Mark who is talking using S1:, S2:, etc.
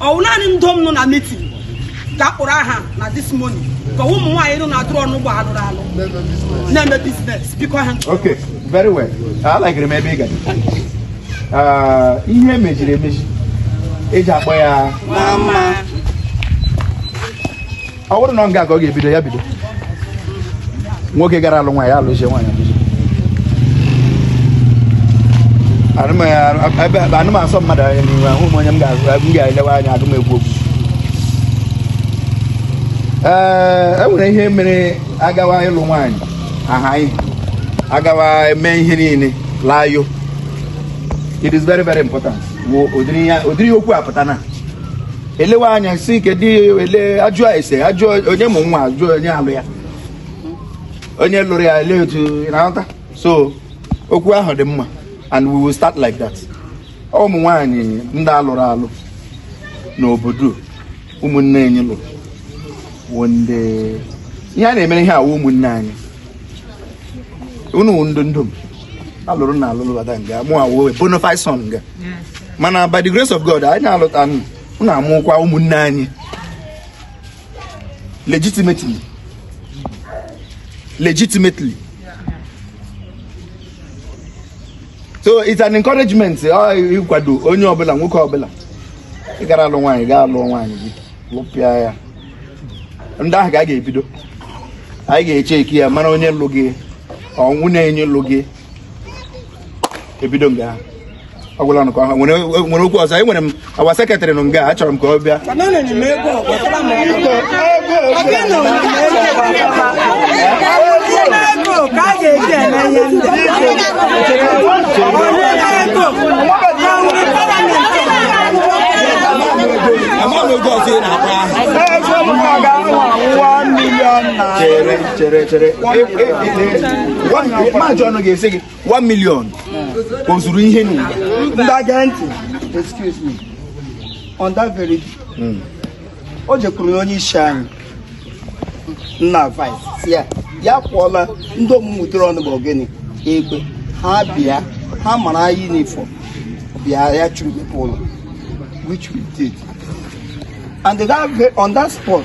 S1: ọ wụ naanị ndom nọ na mitin ka a kpọrọ aha na this morning ka ụmụ nwaanyị nọ na-atụrụ ọnụ ụgbọ alụrụ alụ na-eme biznes biko ha Okay, very well. Alagịrị m ebe ị gara. Ah, Ihe mejiri emeji eji akpọ ya mama ọ wụrụ na ọ nga ka ọ ga-ebido ya bido nwoke gara alụ nwaanyị alụzie nwaanyị alụzie anụ m asọ mmadụ anya n'ihu ahụ m onye m ga-elewe anya agụ m ekwu okwu ee e nwere ihe mere agawa ịlụ nwaanyị aha anyị agawa eme ihe niile layo it is very very important ụdịrị okwu a pụta na elewe anya sị kedu ele ajụọ ese ajụọ onye mụ nwa ajụọ onye alụ ya onye lụrụ ya ele otu na-aghọta so okwu ahụ dị mma and we will start like that ụmụ nwaanyị ndị alụrụ alụ n'obodo ụmụnne anyị lụrụ wụ ndị ihe a na-emere ihe a wụ ụmụnne anyị unu wụ ndị ndom alụrụ na alụrụ bata nga mụ awụ bonafide son nga mana by the grace of God anyị na-alụta na-amụkwa ụmụnne anyị legitimately legitimately so it's an encouragement ịkwado onye ọbụla nwoke ọbụla ị gara alụ nwaanyị gaa alụọ nwaanyị gị lụpịa ya ndị ahụ ka a ga-ebido anyị ga-echeki ya mara onye lụ gị ọ wụ na onye lụ gị ebido nga ha ọ gwụla nụ ka ha nwere nwere okwu ọzọ enwere m our secretary nọ nga a chọrọ m ka ọ bịa amaghị oge ọzọ ị na-akpa ahụ chere chere chere maji ọnụ ga-esi gị 1 million o zuru ihe n'ụwa ndị aga ntị excuse me on that very day o jekwuru na onye isi anyị na vice sị ya ya kwụọla ndị omume ụdịrị ọnụ bụ ogene egbe ha bịa ha mara anyị n'ifọ bịa ya chọrọ mepe ụlọ which we did and that, ve- on that spot